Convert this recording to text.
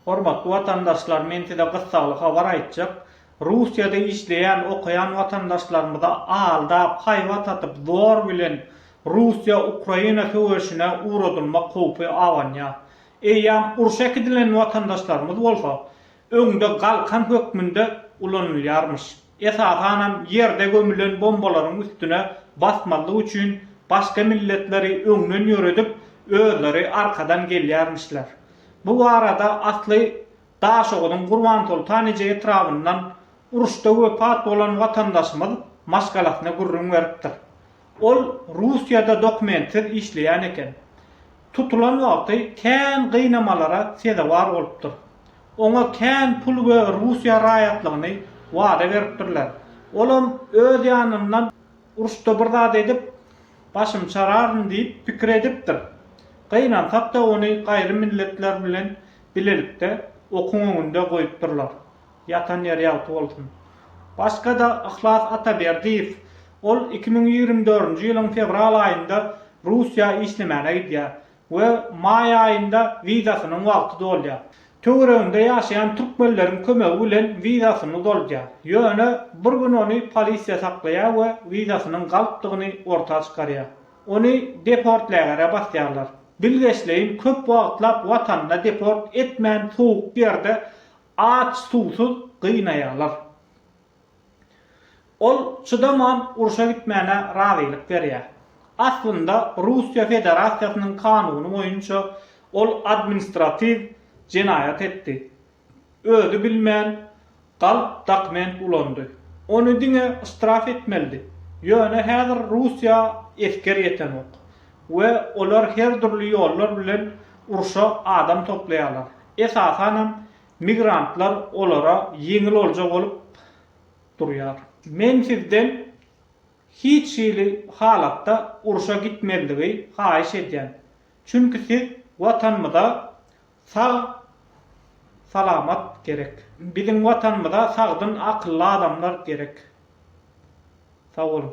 Hormatly watandaşlar men size gyssagly habar aýtjak, Russiýada işleýän okaýan watandaşlarymyza aldap haýbat atyp zor bilen Russiýa Ukraina söweşine ugradylmak howpy abanýar. Eýýam urşa äkidilen watandaşlarymyz bolsa öňde galkan hökmünde ulanylýarmyş. Esasanam ýerde gömülen bombalaryň üstüne basmazlyk üçin başga milletleri öňden ýöredip özleri arkadan gelýärmişler. Bu barada asly Daşoguzyň Gurbansoltanije etrabyndan uruşda wepat bolan watandaşymyz maşgalasyna gürrüň beripdir. Ol Russiýada dokumentsiz işleýän eken. Tutulan wagty kän gynamalara sezewar bolupdyr. Oňa kän pul we Russiýa raýatlygyny wada beripdirler. Olam öz ýanyndan. Uruşda bir zat edip, başym çararyn diýip pikir edipdir. Gynansak-da ony gaýry milletler bilen bilelikde okuň öňünde goýupdyrlar. Ýatan ýeri ýagty bolsun. Başga-da Yhlas Ataberdiýew. Ol iki müň ýigrimi dördünji ýylyň fewral aýynda Russiýa işlemäne gidýär. we maý aýynda wizasynyň wagty dolýar. Töwereginde ýaşaýan türkmenleriň kömegi bilen wizasyny uzaldýar. Ýöne bir gün ony polisiýa saklaýar we wizasynyň galypdygyny orta çykarýar. Ony deport-lägere basýarlar. Bilgeşleýin köp wagtlap watanyna deport etmän sowuk ýerde aç-suwsuz gynaýarlar. Ol çydaman urşa gitmäne razylyk berýär. Aslynda Russiýa Federasiýasynyň kanuny boýunça ol administratiw jenaýat etdi. Özi bilmän galp dokument ulandy. Ony diňe ştraf etmelidi. Ýöne häzir Russiýa esger ýetenok we olar her dürli ýollar bilen urşa adam toplaýarlar. Esasanam migrantlar olara ýeňil olja bolup durýar. Men sizden hiç hili halatda urşa gitmezligi haýyş edýän. Çünki siz Watanymyza sag salamat gerek. Biziň Watanymyza sagdyn akylly adamlar gerek. Sag boluň.